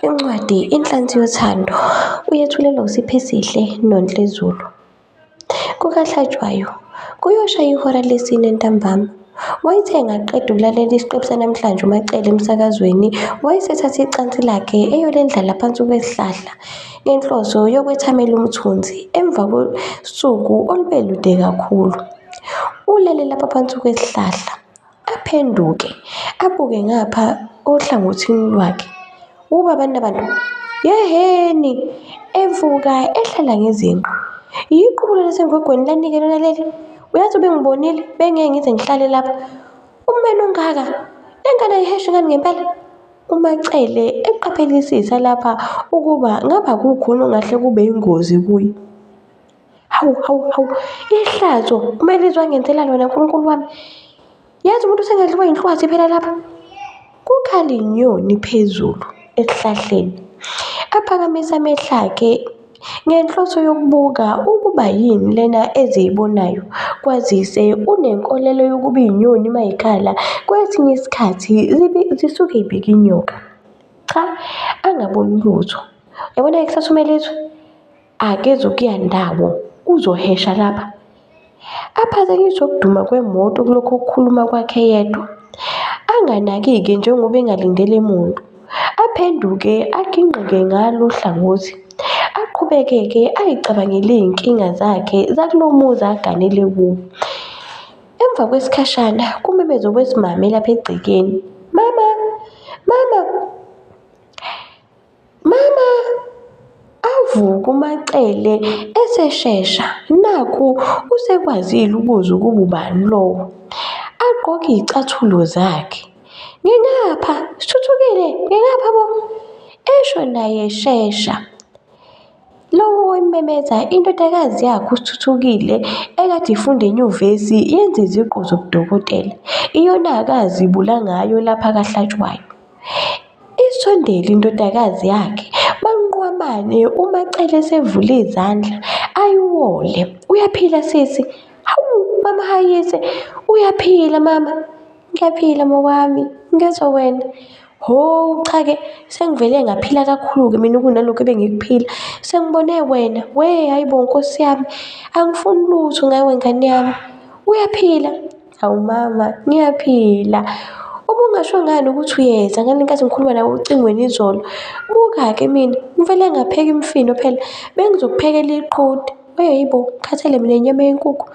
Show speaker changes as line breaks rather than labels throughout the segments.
Incwadi Inhlansi Yothando uyethulelwa uSiphesihle Nonhle Zulu. KukaHlatshwayo kuyosha ihora lesine ntambama. Wayethe engaqeda ukulalela isiqephu sanamhlanje uMaCele emsakazweni, wayesethatha icansi lakhe eyolendlala phansi kwesihlahla ngenhloso yokwethamela umthunzi emva kosuku olube lude kakhulu. Ulele lapha phansi kwesihlahla. Aphenduke abuke ngapha ohlangothini lwakhe. Ukuba abantu abantu yehheni evuka ehlala ngezinqa. Yiqubulo lasengwegweni lanika lona leli. Uyazi ubengibonile bengeke ngize ngihlale lapha. Umene ongaka lengane ayiheshe ngani ngempela? UMaCele eqaphelisisa lapha ukuba ngaba kukhona ongahle kube yingozi kuye. Hawu, hawu, hawu, ihlazo uma lizwa ngenzela lona nkulunkulu wami. Yazi umuntu usengadliwa yinhlwathi phela lapha. Kukhala inyoni phezulu esihlahleni. Aphakamisa amehlo akhe ngenhloso yokubuka ukuba yini lena eziyibonayo kwazise unenkolelo yokuba inyoni uma ikhala kwesinye isikhathi zibi- zisuke ibika inyoka cha angaboni lutho yabona kusasumela izwe akezokuya ndawo uzohesha lapha aphazanyiswe ukuduma kwemoto kulokhu ukukhuluma kwakhe yedwa anganakike njengoba engalindele muntu aphenduke agingqike ngalo hlangothi aqhubekeke ayicabangele iy'nkinga zakhe zakulo muzi aganele kuwo emva kwesikhashana kumemeze kwesimame lapha egcekeni mama mama Mama! Avuka uMaCele eseshesha, nakhu usekwazile ukuzwa ukuba ubani lowo. Agqoke izicathulo zakhe. Ngingapha, Sithuthukile, ngingapha bo! Esho naye eshesha. Lowo wayememeza indodakazi yakhe uSithuthukile ekade ifunda enyuvesi yenza iziqu zobudokotela, iyona akazibula ngayo lapha kaHlatshwayo. Isondele indodakazi yakhe banqwamane umacele sevule izandla ayiwole uyaphila sisi hawu mama hayise uyaphila mama ngiyaphila mawami ngezwa wena ho cha-ke sengivele ngaphila kakhulu-ke mina kunalokhu ebengikuphila sengibone wena we hhayi bo nkosi yami angifuni lutho ngawe ngane yami uyaphila Hawu mama, ngiyaphila. Ubungasho ngani ukuthi uyeza ngani ngenkathi ngikhuluma nawe ocingweni izolo? Buka-ke mina, ngivele ngapheka imifino phela, bengizokuphekela iqhude. Weyi bo, ngikhathele mina inyama yenkukhu,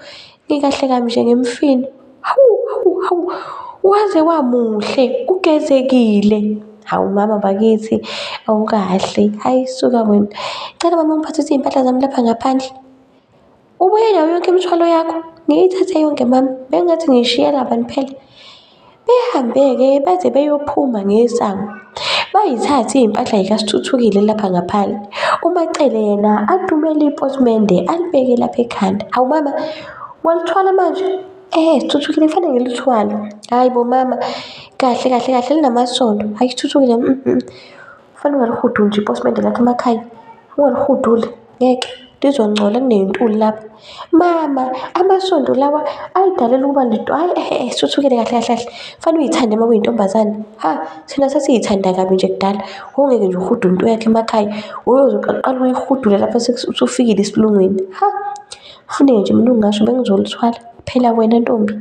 ngikahle kabi nje ngemifino. Hawu, hawu, hawu, waze wamuhle, ugezekile. Hawu mama bakithi, awukahle. Hhayi suka wena. Cela mama ungiphathise iy'mpahla zami lapha ngaphandle. Ubuye nayo yonke imithwalo yakho? Ngiyithathe yonke mama, bengathi ngiyishiya laba phela. Behambe-ke baze beyophuma ngesango. Bayithathe impahla yikasithuthukile lapha ngaphandle. UMacele yena atumele ipotimende alibeke lapha ekhanda. Awu mama, walithwala manje? Eh, sithuthukile kufanele ngilithwale. Hhayi bo mama, kahle kahle kahle linamasondo. Hhayi sithuthukile, mm, mm. Kufanele ungalihudu nje ipotimende lakho emakhaya, ungalihuduli. ngeke ndizongcola kunentuli lapha mama amasondo lawa ayidalelwe ukuba lento hayi ehe eh, suthukele kahle kahle kahle fanele uyithande uma uyintombazane ha thina sasiyithanda kabi nje kudala wongeke nje uhude umuntu yakhe emakhaya uyozoqala uyihudule lapha usufikile esilungwini ha funeke nje mina ungasho bengizolithwala phela wena ntombi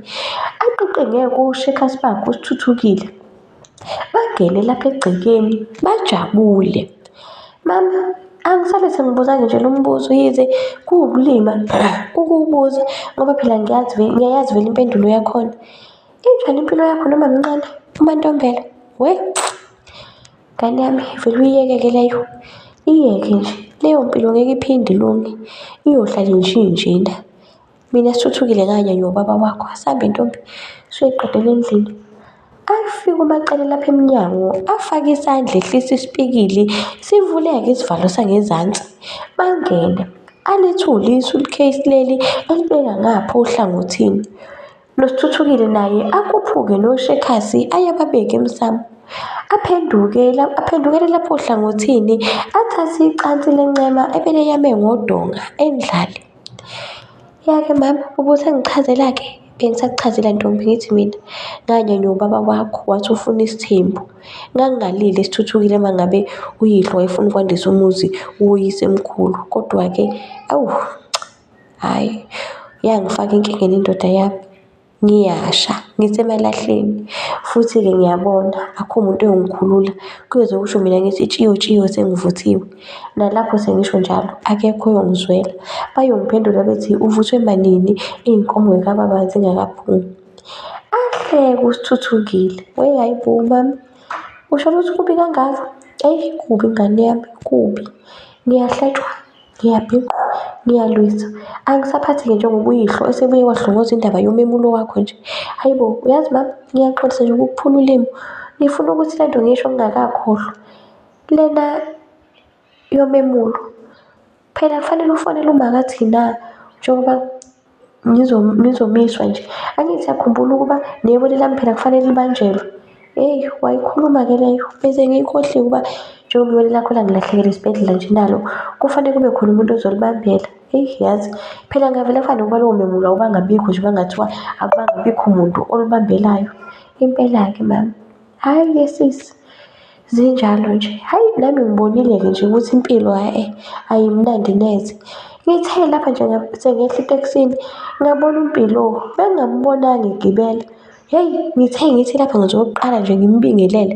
aqiqe ngeke ushe khasibakho usithuthukile Bagele lapha egcekeni bajabule. Mama, angisale sengibuzange nje lo mbuzo yize kuwukulima ukuwubuza ngoba phela ngiyazi vele ngiyayazi vele impendulo yakhona. Injani impilo yakho noma mncane uMaNtombela? We, ngane yami vele uyiyeke-ke leyo. Iyeke nje, leyo mpilo ngeke iphinde ilunge, iyohlala inje injena. Mina sithuthukile kanye nobaba wakho asambe ntombi siyoyiqedela endlini. Afike umacele lapha emnyango afake isandla ehlisa isipikili sivuleke isivalo sangezansi bangene. Alithule isu likheyisi leli alibeka ngapha ohlangothini. Nosithuthukile naye akhuphuke noshekhasi ayababeke emsamo. Aphenduke la- aphendukele lapho ohlangothini athathe icansi lencema ebeleyame ngodonga endlale. Yake mama ubusangichazela-ke bengisakuchazela ntombi ngithi mina nganyonywa ubaba wakho wathi ufuna isithembu. Ngangingalile sithuthukile uma ngabe uyihlo wayefuna ukwandisa umuzi uwuyise emkhulu. Kodwa-ke awu hhayi yangifaka enkingeni indoda yami. ngiyasha, ngisemalahleni. Futhi-ke ngiyabona akukho muntu oyongikhulula, kuyoze kusho mina ngithi tshiyo tshiyo sengivuthiwe. Nalapho sengisho njalo akekho oyongizwela, bayongiphendula bethi uvuthwe manini iy'nkomo zikababa zingakaphumi. Ahleke uSithuthukile, we hhayi bo mama, usho ukuthi kubi kangaka? Eyi kubi ngane yami, kubi, ngiyahlatshwa. Ngiyabhinqa, ngiyalwisa, angisaphathi-ke njengobuyihlo osebuye wahlongoza indaba yomemulo wakho nje. Hhayi bo, uyazi mama, ngiyaxolisa nje ukukuphula ulimu. Ngifuna ukuthi le nto ngiyisho ngingakakhohlwa. Lena yomemulo, phela kufanele ufonele umaka Thinah njengoba nizomiswa nje. Angithi yakhumbula ukuba nebone lami phela kufanele libanjelwe. Eyi, wayikhuluma-ke leyo. Bese ngiyikhohle ukuba njengoba ibone lakho langilahlekela esibhedlela nje nalo, kufanele kube khona umuntu ozolibambela. Eyi, yazi phela ngavele ngifane ngoba lowo memula ubangabikho nje uma kungathiwa akubangabikho muntu olibambelayo. Impela-ke mama. Hayi ke sisi zinjalo nje. Hayi nami ngibonile-ke nje ukuthi impilo hhayi ayimnandi neze. Ngithe lapha nje sengehla etekisini ngabona uMpilo bengingamubonanga egibela. Hheyi ngithe ngithi lapha ngithi okokuqala nje ngimbingelele,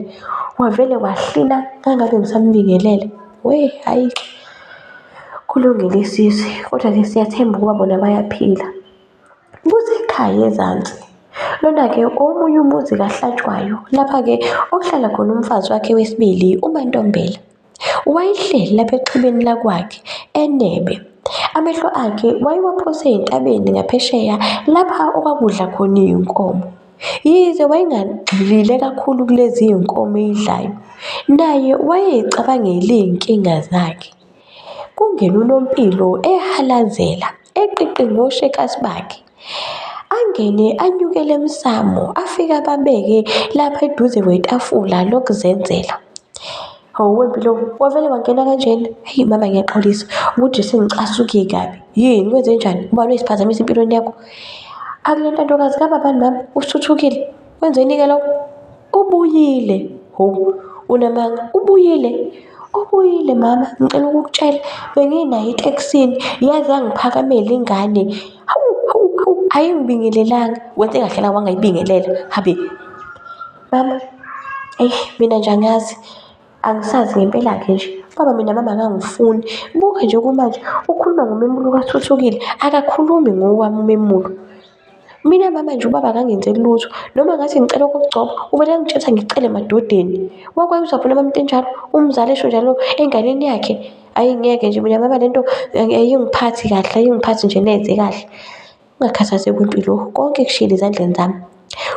wavele wahlina ngangabe ngisamubingelele. Weh hhayi kulungile sisi, kodwa-ke siyathemba ukuba bona bayaphila. Kusekhaya ezansi. Lona-ke omunye umuzi kaHlatshwayo, lapha-ke okuhlala khona umfazi wakhe wesibili, uMaNtombela. Wayehleli lapha exhibeni lakwakhe, enebe. Amehlo akhe wayewaphose entabeni ngaphesheya lapha okwakudla khona iy'nkomo. Yize wayengagxilile kakhulu kulezi iy'nkomo eyidlayo, naye wayey'cabangela iy'nkinga zakhe. Kungenunompilo ehalazela, eqiqe ngoshekasi bakhe. Angene anyukele emsamo, afike ababeke lapha eduze kwetafula lokuzenzela. Hawu wempilo, wavele wangena kanjena? Hheyi mama ngiyaxolisa, ukuthi sengicasuke kabi. Yini, kwenze njani? Ubani oyisiphazamisa empilweni yakho? Akule ntandokazi kababani mama, usuthukile? Wenzeni-ke lokho? Ubuyile. Ho, unamanga. Ubuyile. Ubuyile mama, ngicela ukukutshela benginayo etekisini yaze yangiphakamela ingane. Hawu, hawu, hawu, ayingibingelelanga. Wenze kahle la wangayibingelela. Habe. Mama, eyi mina nje angazi. Angisazi ngempela-ke nje. Baba mina mama akangifuni. Buka nje kumanje ukhuluma ngomemulo kaThuthukile, akakhulumi ngowami umemulo. Mina mama nje ubaba akangenzeli lutho noma ngathi ngicela ukugcoba uvele angitshela ngicele emadodeni. Wakwazi uzabona mama into enjalo umzali esho njalo enganeni yakhe. Ayi ngeke nje mina mama lento ayingiphathi kahle ayingiphathi nje neze kahle. Ungakhathazeki kwempilo konke kushiyele ezandleni zami.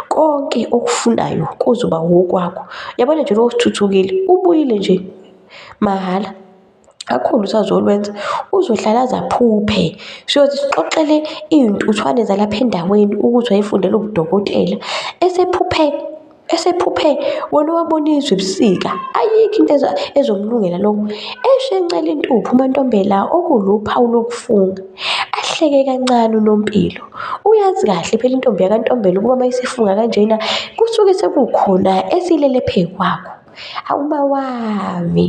Konke okufunayo kuzoba wokwakho. Yabona nje lo osithuthukile ubuyile nje mahhala. Kakhulu usazolwenza uzohlala aze aphuphe. Siyothi sixoxele iy'ntuthwane zalapha endaweni ukuthi wayefundela ubudokotela. Esephuphe, esephuphe wena owabona izwe ebusika. Ayikho into ezomlungela lokho. Eshencela intupho uMantombela okuwuluphawu lokufunga. Ahleke kancane uNompilo. Uyazi kahle phela intombi yakaNtombela ukuba uma isifunga kanjena kusuke sekukhona esilele phekwakho. Awu uba wami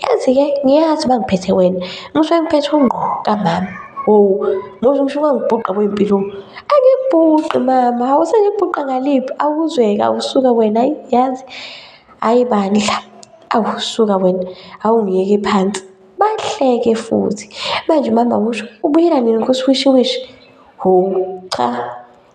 yazi-ke ngiyazi uba ngiphethe wena ngisuke ngiphethe ungqo kamama oh muzi ngisho ungangibhuqa kwey'mpilo angikubhuqi mama hawu sengikubhuqa ngaliphi awuzweke awusuka wena ayi yazi ayi bandla awu suka wena awungiyeke phansi bahleke futhi manje umama usho ubuyela nini kusiwishiwishi hho cha.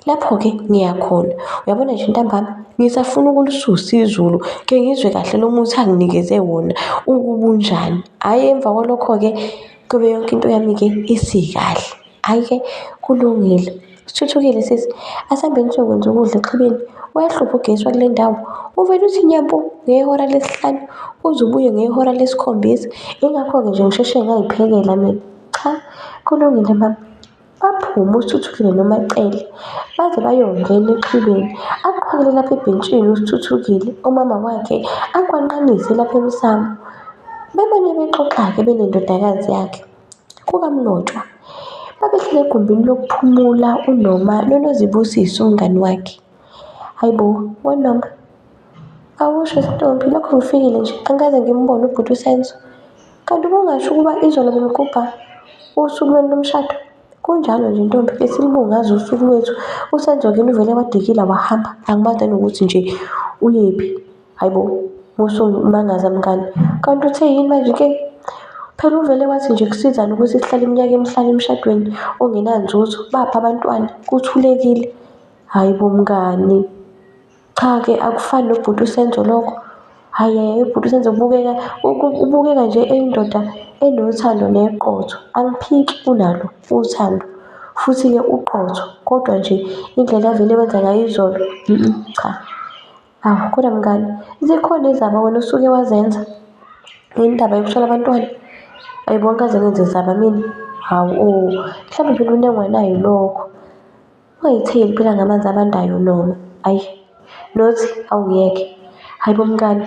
Lapho-ke ngiyakhona. Uyabona nje ntambama, ngisafuna ukulususa izulu, ke ngizwe kahle lo muthi anginikeze wona ukubunjani. Hhayi emva kwalokho-ke kube yonke into yami-ke isikahle. Hhayi-ke kulungile. Sithuthukile sisi, asihambeni siyokwenza ukudla exhibeni. Uyahlupha ugesi wakule ndawo. Uvele uthi nyampu ngehora lesihlanu, uze ubuye ngehora lesikhombisa. Yingakho-ke nje ngisheshe ngayiphekela mina. Cha, kulungile mama. Baphume uSithuthukile noMacele baze bayongena exhibeni. Aqhwakele lapha ebhentshini uSithuthukile, umama wakhe akwanqanise lapha emsamo. Bebane bexoxa-ke benendodakazi yakhe kukamnotshwa. Babehlele egumbini lokuphumula uNoma noNozibusiso umngani wakhe. Hayibo, weNoma, Awusho Stompi, lokho ngifikile nje angikaze ngimbone ubhuti uSenzo. Kanti ubungasho ukuba izolo bemgubha usuku lwenu lomshado? Kunjalo nje ntombi, besilibungaza usuku lwethu. USenzo kini uvele wadikila wahamba, angimazi nanokuthi nje uyephi. Hhayi bo, musumangaza mngani. Kanti uthe yini manje ke? Phela uvele wathi nje kusizani ukuthi sihlale iminyaka emihlanu emshadweni ongenanzuzo, baphi abantwana? Kuthulekile. Hhayi bo mngani. Cha-ke akufani nobhuti uSenzo lokho. Hhayi hhayi ubhuti uSenzo ubukeka ubukeka nje eyindoda enothando neqotho. Aluphiki unalo uthando futhi-ke uqotho kodwa nje indlela avele wenza ngayo izolo cha. Awu kodwa mngani zikhona izaba wena osuke wazenza ngendaba yokushona abantwana? Ayi bo angikaze ngenze zaba mina. Hawu o, mhlawumbe phela unengwa naye lokho. Ungayitheli phela ngamanzi abandayo noma. Ayi. Nothi awuyeke. Hayibo mngani.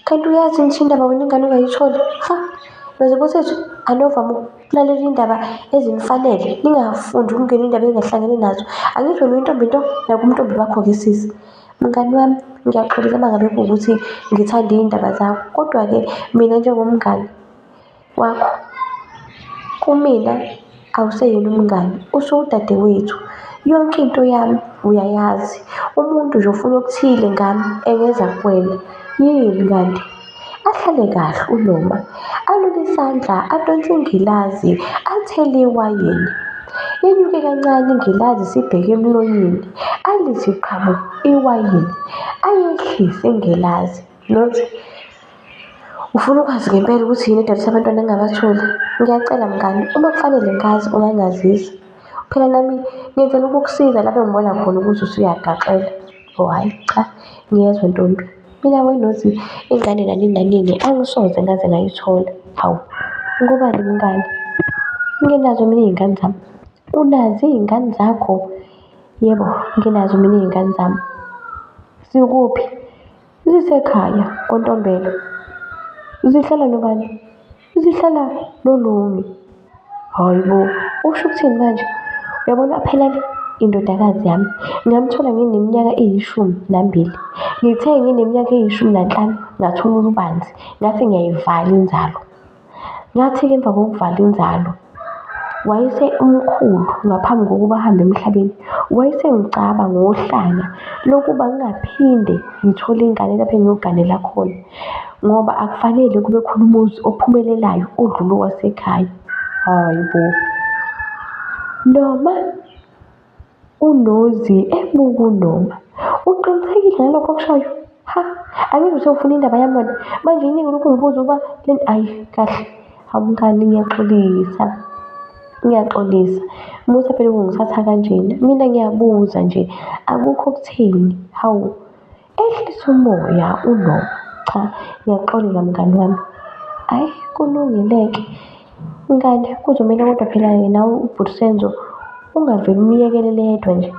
Kanti uyazi ngisho indaba wena ingane ungayitholi. Ha. Nothi kusethu anovama ukulalela indaba ezimfanele. Ningafundi ukungena indaba engahlangene nazo. Angisho lo intombi into nakumntombi bakho ke sisi. Mngani wami ngiyaxolisa mangabe kuwukuthi ngithanda iy'ndaba zakho kodwa-ke mina njengomngani Wakho. Kumina awuseyena umngani, usuwudadewethu. Yonke into yami uyayazi. Umuntu nje ufuna okuthile ngami engeza kuwena. Yini kanti? Ahlale kahle uNoma, alule isandla, adonse ingilazi, athele iwayini. Yenyuke kancane ingilazi isibheke emlonyeni, alithi qhamu iwayini. Ayehlise ingilazi, Nothi, Ufuna ukwazi ngempela ukuthi yini edalisa abantwana engingabatholi? Ngiyacela mngani, uma kufanele ngazi ungangazisa. Phela nami ngenzela ukukusiza lapho engibona khona ukuthi usuyagaxela. Oh hhayi cha, ngiyezwa ntombi. Mina weNozi ingane nanini nanini angisoze ngaze ngayithola. Hawu, ngobani umngani? Nginazo mina iy'ngane zami. Unazo iy'ngane zakho? Yebo, nginazo mina iy'ngane zami. Zikuphi? Zisekhaya koNtombela. Zihlala nobani? Zihlala noLumi. Hhayi bo, usho ukuthini manje? Uyabona phela le indodakazi yami ngamthola ngineminyaka eyishumi nambili. Ngithe ngineminyaka eyishumi nanhlanu ngathola ulubanzi, ngathi ngiyayivala inzalo. Ngathi-ke emva kokuvala inzalo wayese umkhulu ngaphambi kokuba ahambe emhlabeni wayesengicaba ngohlanya lokuba ngingaphinde ngithole ingane lapho engiyoganela khona ngoba akufanele kube khona umuzi ophumelelayo odlula owasekhaya hayi bo noma unozi ebukuluma uqinisekile ngalokho okushoyo ha angizwe ukuthi ufuna indaba yami wena manje iningi ulokhu ngibuza ukuba le nto ayi kahle awumngani ngiyaxolisa ngiyaxolisa musa phela ukungithatha kanjena mina ngiyabuza nje akukho okutheni hawu Ehlisa umoya uNoah, Cha, ngiyaxolela mngani wami. Hhayi kulungile-ke mngani kuzomele kodwa phela yena ubhuti Senzo ungavele umyekelele yedwa nje.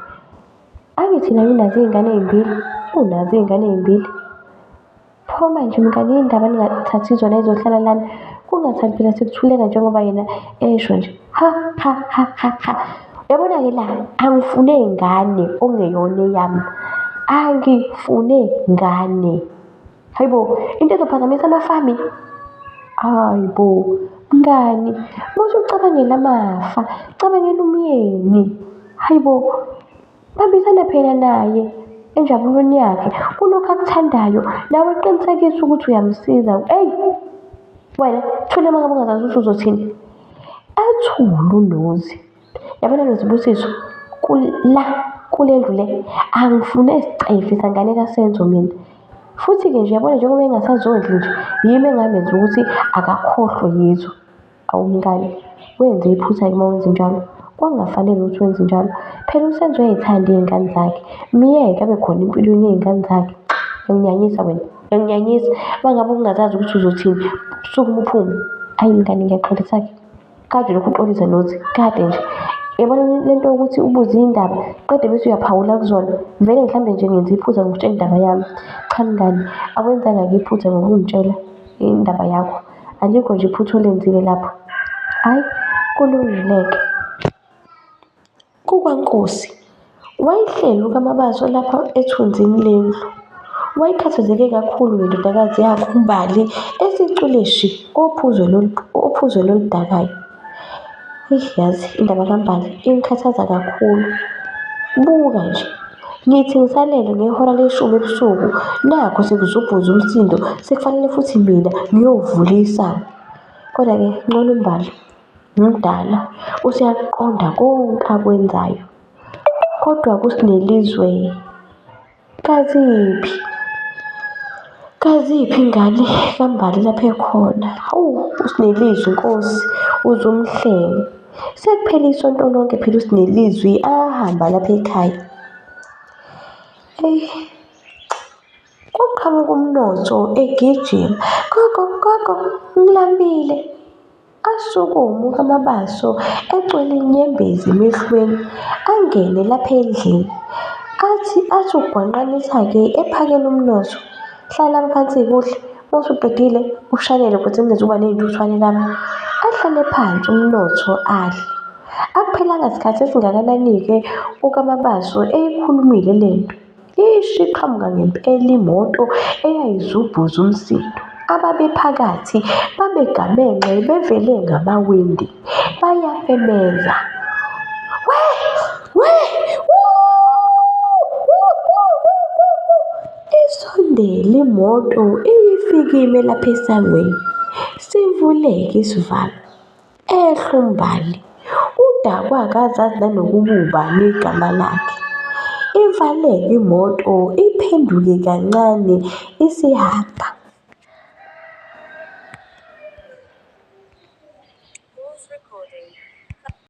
Angithi naye unazo iy'ngane ey'mbili? Unazo iy'ngane ey'mbili? Pho manje mngani yini ndaba ningathathi zona y'zohlala lana? Kungathani phela sekuthuleka njengoba yena esho nje. ha ha ha ha ha yabona ke la angifune ngane ongeyona eyami angifune ngane hayibo into ezophazamisa amafami hayibo mngani muthi ucabangela amafa cabangela umyeni hayibo Bambisana phela naye enjabulweni yakhe kulokhu akuthandayo nawe qinisekisa ukuthi uyamsiza eyi wena thule uma ngabe ungazazi ukuthi uzothini ethule unozi yabona nozibusiso kula kule ndlu le angifune sicefe sangane kasenzo mina futhi-ke nje yabona njengoba engasazondli nje yimi engamenza ukuthi akakhohlwe yizo Awu mngani, wenze iphutha-ke uma wenze njalo. Kwakungafanele ukuthi wenze njalo. Phela uSenzo uyay'thanda iy'ngane zakhe. Myeke abe khona empilweni yey'ngane zakhe. Uyanginyanyisa wena, uyanginyanyisa. Uma ngabe ubungazazi ukuthi uzothini, sukuma uphume. Ayi mngani ngiyaxolisa-ke. Kade ulokhu uxolisa nothi, kade nje. Yabona le nto yokuthi ubuze iy'ndaba, qede bese uyaphawula kuzona. Vele mhlawumbe nje ngenze iphutha ngokutshela indaba yami. Cha mngani, awenzanga-ke iphutha ngokungitshela indaba yakho. Alikho nje iphutha olenzile lapho. Hhayi, kulungile-ke. KukwaNkosi. Wayehleli uKaMabaso lapha ethunzini lendlu. Wayekhathazeke kakhulu ngendodakazi yakhe uMbali esicule shi ophuzweni oludakayo. Eish yazi indaba kaMbali ingikhathaza kakhulu. Buka nje, ngithi ngisalele ngehora leshumi ebusuku, nakhu sekuzobhuza umsindo, sekufanele futhi mina ngiyovula isango. Kodwa-ke ncono uMbali, mdala, useyakuqonda konke akwenzayo. Kodwa kuSinelizwe. Kaziphi? Kaziphi ingane kaMbali lapho ekhona? Hawu, uSinelizwi Nkosi, uze umhlenge. Sekuphele isonto lonke phela uSinelizwi ahamba lapha ekhaya. Eyi, kuqhamuka umnotho egijima. Gogo, gogo, ngilambile. Asukumu amabaso ecwele inyembezi emehlweni angene lapha endlini. Athi athi ugwanqanisa-ke ephakela umnotho. Hlala phansi kuhle usuqedile ushanele ukuthi ngizoba ney'ntuthwane lami. Ahlale phansi umnotho adle. Akuphelanga sikhathi esingakanani-ke uKaMabaso eyikhulumile le nto. Eish iqhamuka ngempela imoto eyayizubhuza umsindo. Ababephakathi babegamenxe bevele ngamawindi bayafemeza. We! We! Isondele imoto iyifikime lapha esangweni, sivuleke isivalo. Ehlu Mbali udakwa akazazi nanokububa negama lakhe. Ivaleke imoto iphenduke kancane isihamba.